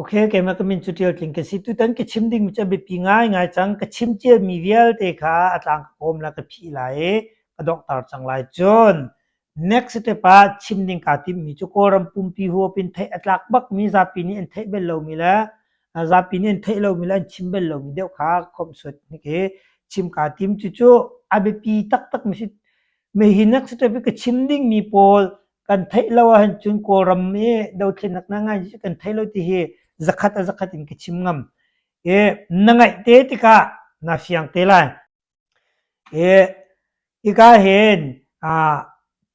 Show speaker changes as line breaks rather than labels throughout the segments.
Ok, keimah ka min cu Ṭial Tling ka si. Tutan ka chim dingmi cu a biapi ngaingai cang. Ka chim ṭialmi vialte kha a tlang ka kawm le ka phih lai i ka donghter cang lai. Cun next step ah chim ding kaa timmi cu Kawlram pumpi huap in theih a tlak bakmi zapi nih an theih bal lomi le a zapi nih an theih lomi le an chim bal lomi deuh kha khawmhsuat hnik i chim kaa tim. Cucu a biapi taktakmi si. Mei hi next step i ka chim dingmi pawl kan theih lo ahhin cun Kawlram i dothlennak na ngai kan thei lo ti hi zakhat a zakhat in ka chim ngam i na ngaih te tikah na fiang te lai i hika hin ah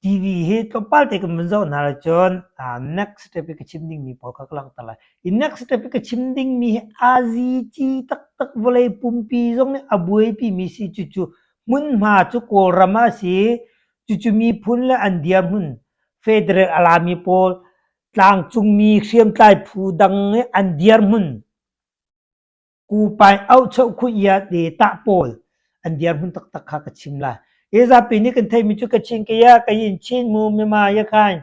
TV hi tlawmpal te kan vun zoh hna lo cun ah next step i ka chim dingmi pawl kha ka langhter lai i next step i ka chim dingmi hi azici taktak vawlei pumpi zong nih a buaipimi si cucu hmunhma cu Kawlram a si Cucu miphun le an dirhmun federal a lami pawl tlangcungmi hriamtlai phu dang nih an dirhmun kupai auhcheuh khuia te tah pawl an dirhmun taktak kha ka chim lai. Hi zapi nih kan theihmi cu Kachin Kaya, Kayin Chin Mu, Myanmar, Yakhain,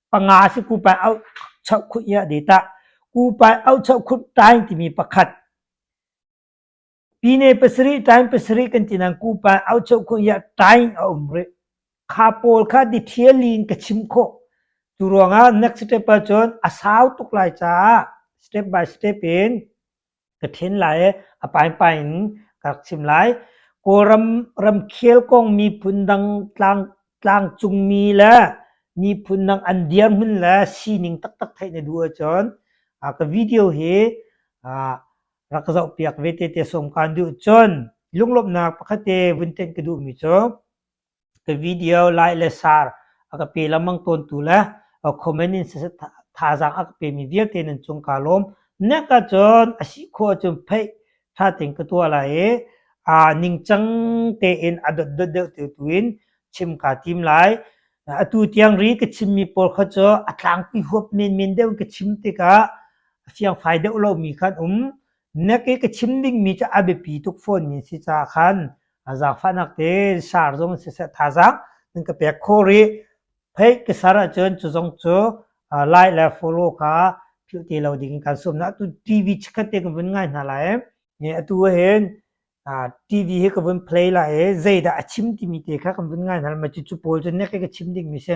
Panga si kupai au chauh khuh ia de ta. Kupai au chauh khuh tain timi pakhat. Pine pasarih tain pasarih kan ti nang kupai au chauh khuh ia tain a um rih. Kha pawl kha detailin ka chim khawh. Cu ruangah next step ah cun a sau tuk lai caah step by step in ka ṭhen lai ee a paipai in ka rak chim lai. Kawlram ramkhel kong miphun dang tlang tlangcungmi le miphun dang an dirhmun le sining taktak theih na duh ahcun ah ka video hi ah rak ka zohpiak ve tete sawm kaan duh. Cun lunglawmhnak pakhat te vun tenh ka duhmi cu Ka video like le share a ka pe lengmang tawntu le comment in thazaang a ka pemi vialte nan cung kaa lawm. Nek ahcun a si khawh ahcun theih ṭha tein ka tuah lai i aa ningcang tein a dotdot deuh te tu in chim kaa tim lai. Atu tiang ri ka chimmi pawl kha cu a tlangpi huap menmen deuh in ka chim tikah fiangfai deuh lomi kha an um. Na ke ka chim dingmi cu a biapi tuk fawnmi si caah khan zaangfahnak tein sar zong siseh thazaang nan ka pek khawh rih. Phei ka ser ahcun cu zong cu like le follow kha philh ti lo ding in kan sawm hna. Atu TV chikkhat te ka vun ngai hna lai i atu ahhin TV hi ka vun play lai i zeidah a chim timi te kha kan vun ngai hna lai. Mah cucu pawl cu na ke ka chim dingmi si.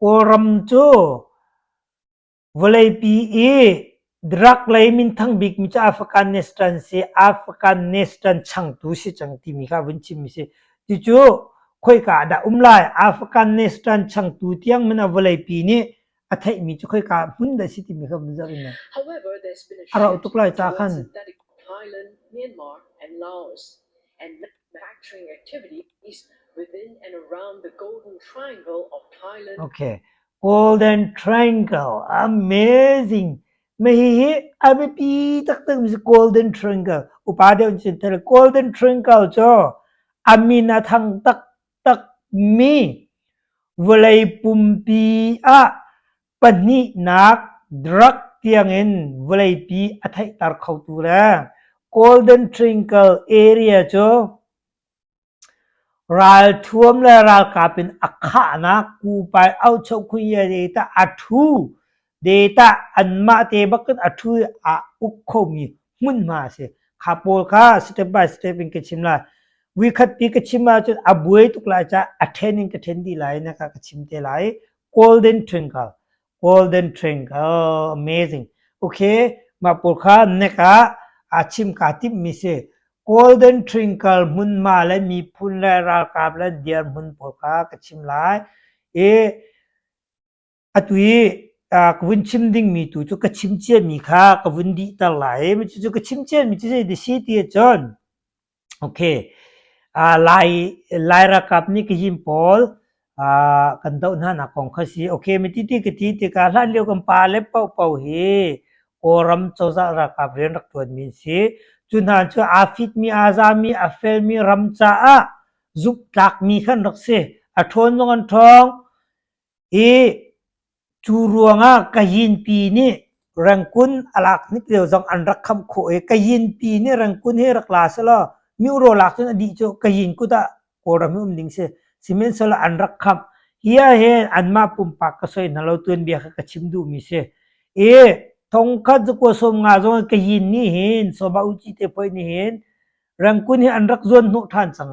Kawlram
cu vawleipi i drug lei minthang bikmi cu Afghanistan changtu si cang timi kha vun chimmi si. Cucu khoika ah dah um lai? Afghanistan changtu tiang men a vawleipi nih a theihmi cu khoika hmun dah si timi kha vun zoh in However, there's been
a rauh tuk lai ta khan
synthetic
Ireland, Myanmar, and Laos, and manufacturing activities within and around the Golden Triangle of Thailand. Okay,
Golden Triangle, amazing. Mai hi hi a biapi taktak mi Golden Triangle. Upa deuh synthetic Golden Triangle cu a min a thang tak Takmi vawlei pumpi ah pahnihnak drug tiangin vawleipi a theihter khotu le golden triangle area cu ralthuam le ralkap in a khahnak kupai auhchoh khun ye tah a thu Data anmah te bakin a thu i aa uk khomi hmunhma a si. Kha pawl kha step by step in ka chim lai. Vuikhat ti ka chim ahcun a buai tuk lai caah a ṭhen in ka ṭhen dih lai na ka ka chim te lai. Golden Twinkle. Golden Twinkle. Amazing. Okay. Mah pawl kha nek ah aa chim kaa timhmi si. Golden Twinkle hmunhma le miphun le ralkap le dirhmun pawl kha ka chim lai. I Atu i ka vun chim dingmi tu cu ka chim ciami kha ka vun dihter lai i cucu ka chim ciami cu zei si ti ahcun okay Lai Lai ralkap nih Kazim pawl kan doh hna nak kong kha si okay mi ti ti ka ti tikah hlan lio kan pa le paohpaoh hi Kawlram cozah ralkap rian rak ṭuanmi an si cu hna cu aa fitmi aa zami a felmi ram caah zumhtlakmi khan rak si a ṭhawn zong an ṭhawng Hi cu ruangah Kayinpi nih Rengkun a lak hnik lio zong an rak khamh khawh i Kayinpi nih Rengkun hi rak la selaw Myuro lak cun a dih cu Kayin kut ah Kawlram hi um ding si. Sihmanhsehlaw an rak khamh. Hi ahhin anmah pumpak ka soi hna lo tuanbia kha ka chim duhmi si. I thongkhat cu kua sawm nga zong Kayin nih hin Sawma Uci te poi nih hin Rengkun hi an rak zuanhnawh ṭhan cang.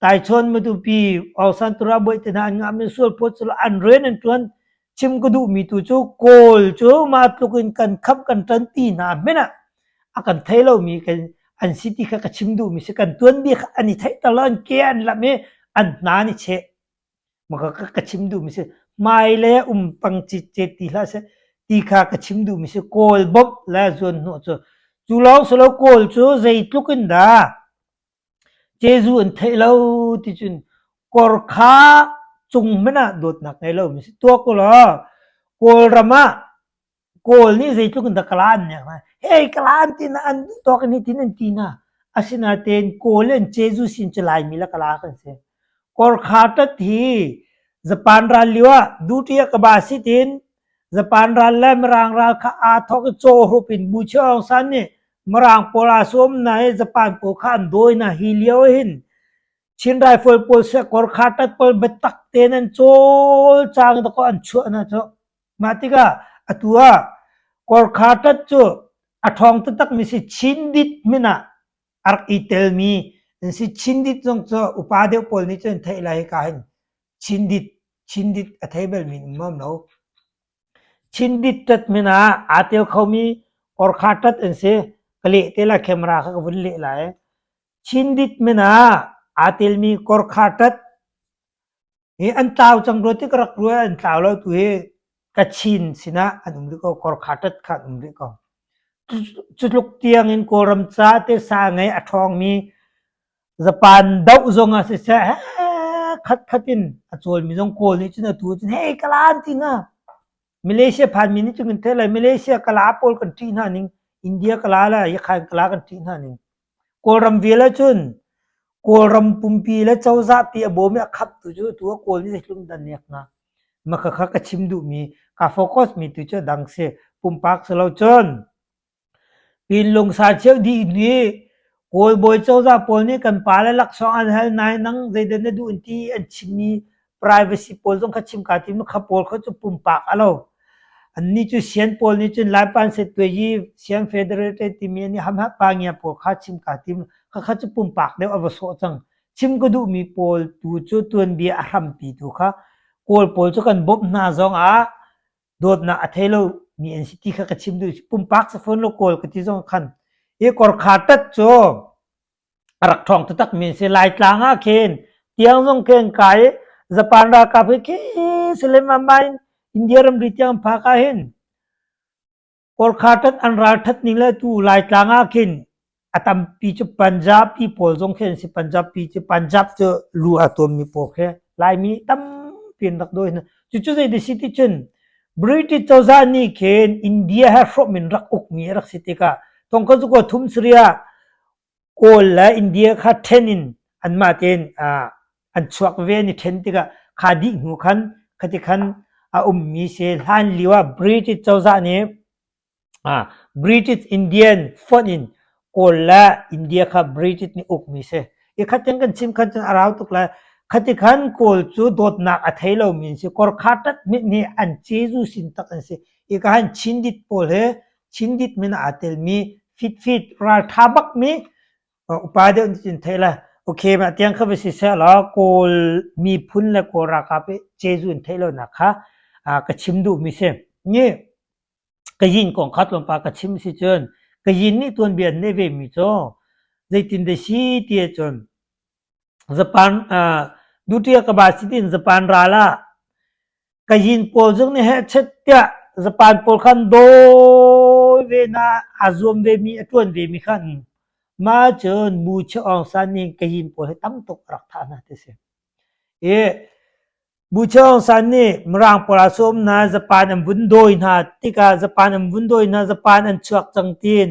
Taichuan matupi Osantura Boihtina an ngah mi sualphawt cu an rian an ṭuan chim ka duhmi tu cu Kawl cu mah tluk in kan khamh kan ṭan ti hna hmenh ah a kan thei lomi kan an si ti kha ka chim duhmi si kan tuanbia kha an i theihter lo an ke an lam i an hna nih cheh maka ka, ka chim duhmi si hmai le um pang ci chet ti hlah seh ti kha ka chim duhmi si Kawl bawmh le zuan hnawh cu cu lawng si lo Kawl cu zeitluk in dah Jesuh an theih lo ticun kawr kha cung hmanh ah dawtnak ngei lo mi si tuak ulaw Kawlram ah Kawl nih zeitluk in dah ka laan nek lai hei ka laan tina an duh tawk in hitin an ti hna asinatein Kawl le an Jesuh sin cu Laimi le ka laa kan si kawr kha tat hi Japan ral lio ah duty ah ka ba si tiin Japan ral le Mirang ral kha aa thawk i caw hrup in Bu Cheung San nih Mirang pawl aa sawm hna i Japan pawl kha an dawi hna. Hi lio hin Chin rifle pawl siakor khartat pawl biatak tein an cawlcang dakaw an chuah hna cu. Mah tikah atu ah korkhartat cu a ṭhawng taktakmi si Chindit min ah a rak i telmi an si. Chindit zong cu upa deuh pawl nih cun an theih lai hika hin Chindit, Chindit a thei balmi an um maam lo. Chinbit ṭatmin ah aa tel khomi orkha ṭat an si. Ka leh te lai, camera kha ka vun leh lai. Chinbit min ah aa telmi korkha ṭat hi an tlau cang rua ti ka rak ruah i an tlau lo. Tu hi Kachin sinah an um rih ko. Korkha ṭat kha an um rih ko. Cu tluk tiangin Kawlram caah tehsa ngei a ṭhawngmi Zapan doh zong ah siseh khat khat in a cawlmi zong kawl nih cun atu cun hei kalaan ti nga Malaysia phanmi nih cun kan theih lai Malaysia kala pawl kan ṭih hna ning India kala la Yakhain kala kan ṭih hna ning Kawlram vial ahcun Kawlram pumpi le cozah pi a bawm i a khap tu cu tu a kawl nih hlum dan nek nga maka kha ka chim duhmi ka focus mi tu cu a dang si pumpak si lo cun Innlung sa cheu dih nih kawlbawi cozah pawl nih kan pale laksawng an hal nain nang zeidah na duh an ti an chimmi privacy pawl zong kha chim kaa tim lo. Kha pawl kha cu pumpak a lo. Annih cu sian pawl nih cun Laipan Setwe sian federate timi an i hamhapa ngia pawl kha chim kaa tim lo. Khakha cu pumpak deuh a va sawh cang. Chim ka duhmi pawl tu cu tuanbia a hrampi tu kha Kawl pawl cu kan bawmh hna zongah dawtnak a thei lo mi an si ti kha ka chim duh pumpak sa fawn lo kawl ka ti zong khan i kor kha tat cu a rak thong taktak min si lai tlang ah khin tiang zong khen kai japan ralkap hi ke seleman ma in india ramri tiang phak ah hin Kawrkhatat an ralṭhat ning le tu Laitlang ah khin a tampi cu Punjabi pawl zong khi an si. Punjabi cu Punjab cu lu a tuammi pawl khi Laimi tampi an rak dawi hna. Cucu zeiti si ti cun British cozah nih khin India he hrawm in rak ukmi a rak si tikah thongkhat cu kaw thum sarih ah Kawl le India kha ṭhen in anmah tein an chuak ve an i ṭhen tikah kha dih hnu khan khati khan a ummi si hlan lio ah British cozah nih British Indian fonh in Kawl le India kha British nih ukmi si. Hi khatiang kan chim khan cun a rau tuk lai. Khati khan Kawl cu dawtnak a thei lomi an si. Korkhatat mit nih an Jesuh sin tak an si. Hi ka hin Chin dit pawl he Cindit min aa telmi fitfit ralṭha bakmi upa deuh nih cun theih le okay mah tiang kha va si seh law Kawl miphun le Kawl ralkap i Jeju an theih lonak kha ka chim duhmi si. Ni Kayin kong kha tlawmpal ka chim si cun Kayin nih tuanbia an neih vemi cu zeitin dah si ti ahcun Duṭi ah ka ba si tiin zapan ral ah ka yin pawl zong nih hehchet tiah zapan pawl kha an dawi ve hna, aa zuam vemi, a ṭuan vemi kha an um. Mah cun Bu Cheuk Aung San nih hin ka yin pawl hi tam tuk a rak thah hna ti a si. I Bu Cheuk Aung San nih Mirang pawl ah sawm hna, zapan an vun dawi hna tikah zapan an vun dawi hna, zapan an chuak cang tiin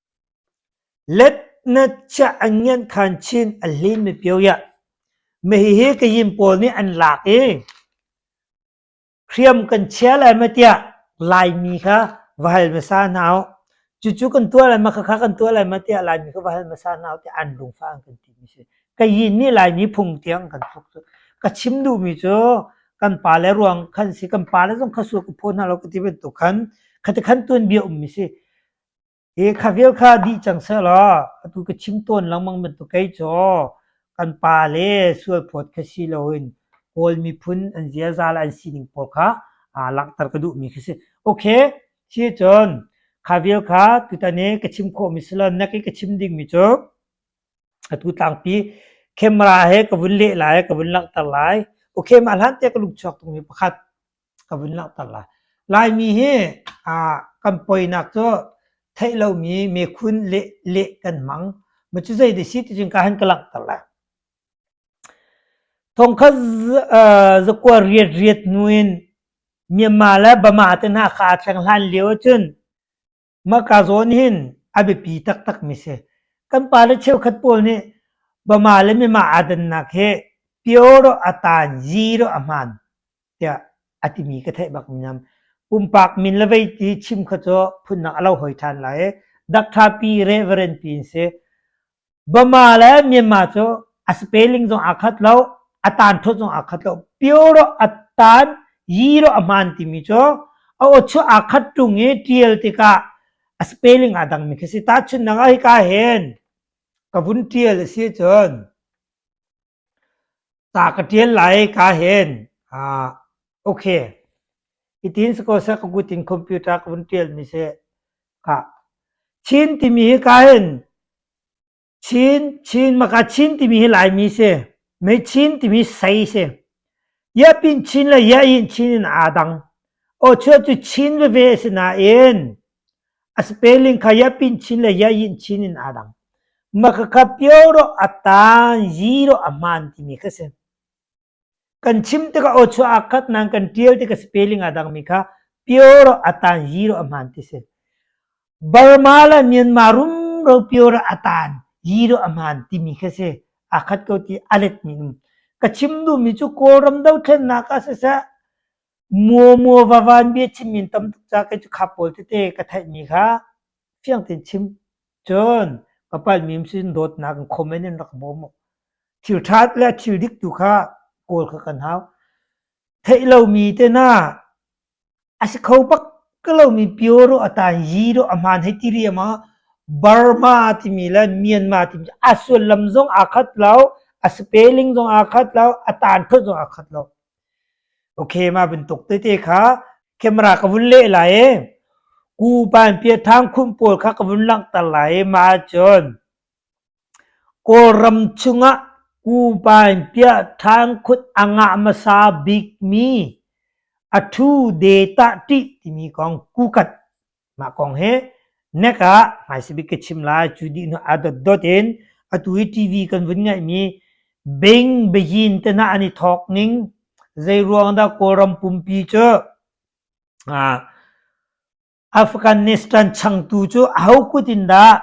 Let na ciah an ngianh khan chin a hlin mipio iah mahihi kayin pawl nih an lak i hriam kan chia lai ma tiah Laimi kha va hal hmasa hna u. Cucu kan tuah lai ma khakha kan tuah lai ma tiah Laimi kha va hal hmasa hna u tiah an lungfah an kan ti mi si. Kayin nih Laimi phung tiang kan thok cu. Ka chim duhmi cu kan pale ruang khan si kan pale zong kha sur ka phaw hna lo ka ti bantuk khan kha ti khan tuanbia um mi si. E khavel kha dih cang selaw atu ka chim tawn lengmang bantuk kei cu kan pa le sualphawt kha si loin Kawl miphun an ziaza le an sining pawl kha aa langhter ka duhmi khi si. Okay, si cun khavel kha tutane ka chim khawhmi si lo na ke ka chim dingmi cu atu tlangpi camera he ka vun leh lai ka vun langhter lai okay mah hlan te ka lung chuak tungmi pakhat ka vun langhter lai. Laimi hi aa kan poinak cu theih lomi mekhun leh leh kan hmang. Maw cu zei dih si ti cun ka han ka langhter lai. Thongkhat zakuar riat riat hnu in Myanmar le Burma te hna kha a thleng hlan lio ahcun Mahka zawn nih hin a biapi taktakmi si. Kan pale cheukhat pawl nih Bama le Mimah aa dannak hi pio rawh a taan, zi rawh a hmaan tiah a timi ka theih bak mi Pumpak min le vei ti chim kha cu phunnak a lo hoi ṭhan lai i dak ṭha pi, reverend pi in si. Burma le Myanmar cu a spelling zong aa khat lo, a taanthawt zong aa khat lo. Pio rawh, a taan, yi rawh, a hmaan timi cu a awchu aa khat ṭung i ṭial tikah a spelling aa dangmi khi a si. Tahchunhnak ah hika hen ka vun ṭial a si ahcun Ca ka ṭial lai kaa hen. Ok, hitin si ko seh ka kut in computer ka vun ṭialmi seh khah. Chin timi hi kaa hen Chin, Chin maka Chin timi hi Laimi si. Mei Chin timi sei si. Yap in Chin le Yah in Chin in aa dang. Aw chuah cu Chin veve a si nain A spelling kha ya pin chin le ya yin chin in aa dang. Makakap Pioraw a taan, zero a hmaan timi kha si. Kan chim tikah aw chuah aa khat nain kan ṭial tikah spelling aa dangmi kha Pioraw a taan, zero a hmaan ti si. Burma le Myanmar rumro Pioraw a taan, zero a hmaan timi kha si. Aa khat ko ti a letmi um. Ka chim duhmi cu Kawlram dothlennak ah siseh, Muamua vavan bia chimmi in tam tuk ca kei cu kha pawl tete ka theihmi kha fiang tein chim. Cun ka palhmi um sinin dawtnak in comment in rak bawm u. Thil ṭha le thil dik tu kha kawl kha kan hau. Theih lomi tena a si kho bak ka lomi Pyoro a taan Jiro a hmaan hei ti riam ah Burma timi le Myanmar timi a sullam zong aa khat lo, a spelling zong aa khat lo, a taan phot zong aa khat lo. Okay, mah bantuk tete kha camera ka vun leh lai i Ku Panpiathang khum pawl kha ka vun langhter lai i mah ahcun Kawlram chungah Ku Panpiathang khut angah hmasa bikmi a thu de tah ṭih timi kong kukat Mah kong hi nek ah hmaisabik ka chim lai. Cu dih nu a dotdot in atu i TV kan vun ngaihmi Bing Beyin tenah an i thawk ning zeiruang dah Kawlram pumpi cu ah Afghanistan changtu cu aho kut in dah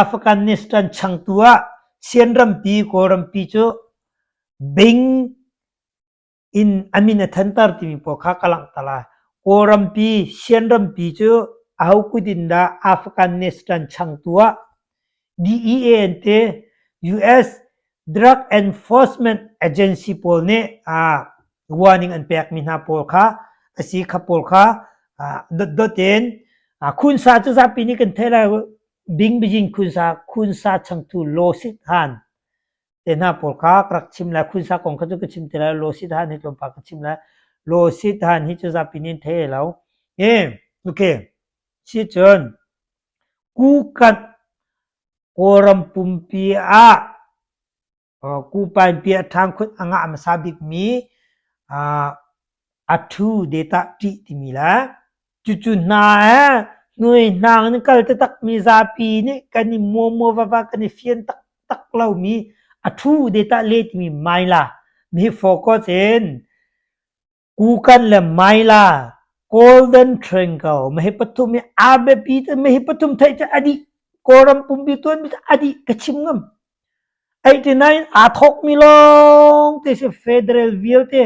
Afghanistan changtu ah Chin rampi Kawlrampi cu Bing Inn a min a thanter timi pawl kha ka langhter lai. Kawlrampi, Shanrampi cu aho kut in dah Afghanistan chang tu ah DEA an ti. US Drug Enforcement Agency pawl nih ah warning an pekmi hna pawl kha asi kha pawl kha ah dotdot in ah khunsa cu zapi nih kan theih lai. Bingbijing khunsa khunsa changtu law sit han te hna pawl kha ka rak chim lai khunsa kong kha cu ka chim te lai lo si than hi tlawmpal ka chim lai lo si than hi cu zapi nin thei lo e okay si cun kukat kawram pumpi ah kupain pi a thang khut anga masa bik mi A ṭhu de tah ṭih timi le cucu hna he hnuaihnang in kal taktakmi zapi nih kan i muamua vava kan i fian taktak lomi a ṭhu de tah le timi Maila mi hi focus in Kukan le Maila Golden Triangle ma hi pathum hi a biapi te ma hi pathum theih cu a dih Kawlram pumpi tuanmi cu a dih ka chim ngam 89 aa thawkmi lawng te si federal vialte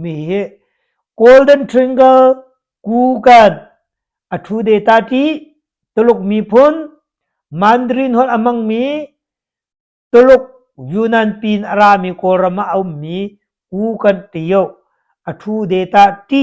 Mi hi Golden Triangle Kukan a ṭhu te ta ṭi. Tuluk miphun Mandarin holh a hmangmi, Tuluk Yunnan pin a rami Kawlram ah a ummi Kukan ti ih a ṭhu te ta ṭi.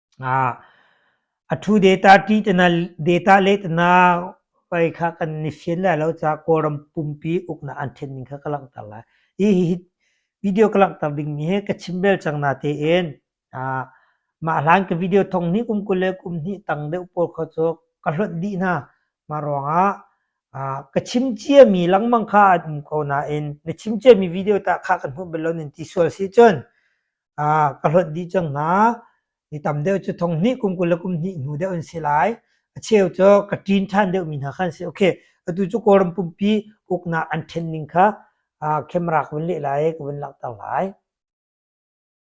A thu data ṭi tana data leh tana pei kha kan ni fian lai lo caah Kawlram pumpi uknak an ṭhen ning kha ka langhter lai. Hi hi video ka langhter dingmi hi ka chim bel cang natein mah hlan ka video thong hnih kum kul le kum hnih tang deuh pawl kha cu ka hlonh dih hna. Mah ruangah ka chim ciami lengmang kha an um ko nain na chim ciami video tah kha kan hmuh bel lo nan ti sual si cun Ah, ka hlonh dih cang hna. Ni tam deuh cu thong hnih kum kul le kum hnih hnu deuh an si lai. A cheu cu ka ṭin ṭhan deuhmi hna kha an si. Okay, atu cu Kawlram pumpi uknak an ṭhen ning kha ah camera ka vun leh lai i ka vun langhter lai.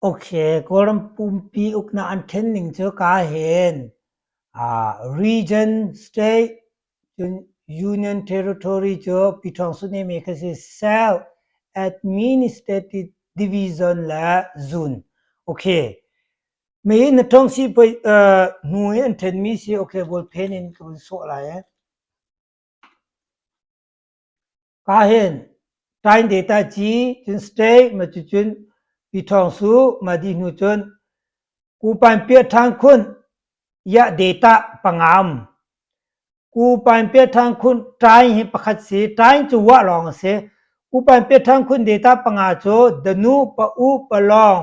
Okay, Kawlram pumpi uknak an ṭhen ning cu ka hen ah region, state, Cun Union Territory cu Pyithawng Suneme kha si South Administrative Division le Zone okay mei in na ṭhawng si pei uh, hnu i an ṭhenmi si okay Volphen in ka vun sawh lai ee. ka hen tain de ta chi cun stay ma cu cun pi thong su ma di hnu cun ku pan pia than khun ya data pangam ku pan pia than khun tain hi pakhat si tain chu wa long se ku pan pia than khun data panga cho danu pa u pa long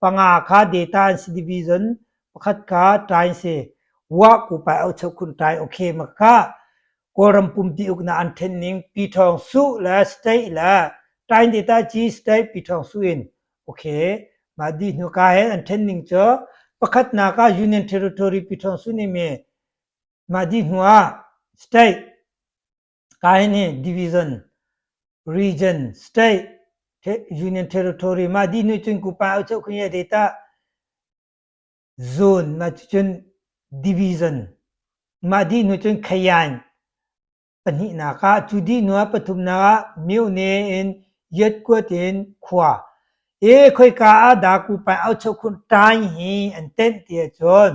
Panga kha data an si division pakhat kha tlai si wah ku pai au cheu kun tlai okay ma kha Kawlram pumpi uk na an then ning pi thong su le state le tain data chi state pi thong su in okay ma di hnu ka hen an then ning cho pakhat na ka union territory pi thong su ni me ma di hnu ah state Kai nih division, region, state, union territory ma di nu cun ku pa u cheu khun ye de ta zone ma cun division ma di nu cun khayan pahnih nak ah cu di nu ah pathum nak ah myone in yet kuat in khua e khoi ka ah da ku pa au cheu khun tain hi an tenh ti cun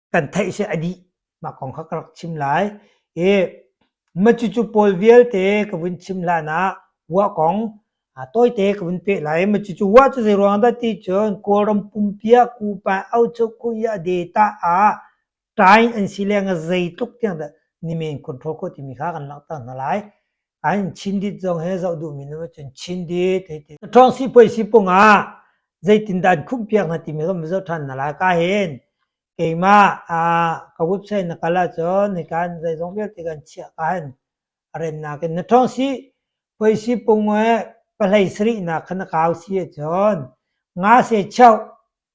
kan theih si a dih mah kong kha ka rak chim lai i macucu pawl vialte ka vun chim hlan ah wa kong tawite ka vun pe lai macucu wa cu zei ruang dah ti cun kawlram pumpia kupa aucho kuya data a tain an si leng a zei tluk tiang dah ni men control ko timi kha kan langhter hna lai An Chin zong he zoh duh mi nu cun Chin dit hei ti. Ṭawng sipuai sipung ah zeitin dah an khumh piak hna ti mi kan va zoh ṭhan na la ka hin keimah ka website na kal ahcun hika an zeizong vialte kan chiah ka hin a rem nakin na ṭawng si puai sipung e pahlei sarih nak kha na kau si ahcun nga se chauh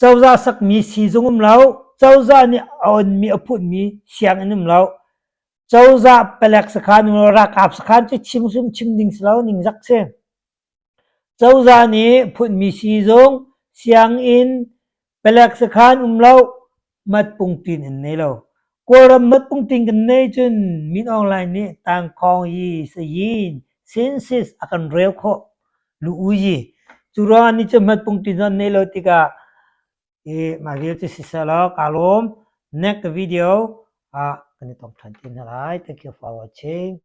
Cozah sakmi siizung um lo. Cozah nih a onmi a phunmi sianginn um lo. Cozah palek sakhan um lo, ralkap sakhan cu chimsum chim ding si lo ningzak si. Cozah nih phunmi siizung, sianginn, palek sakhan um lo, matpung tin in nei lo. Kawlram matpungtling kan nei cun Min Aung Hlaing nih tangkhawng hi sayin census a kan rel khawh nu uyi. Cu ruangah ni cu matpungtling zong an nei lo tikah hi mah vial cu siseh law kaa lawm. Next video ah kan i tong ṭhan te hna lai. Thank you for watching.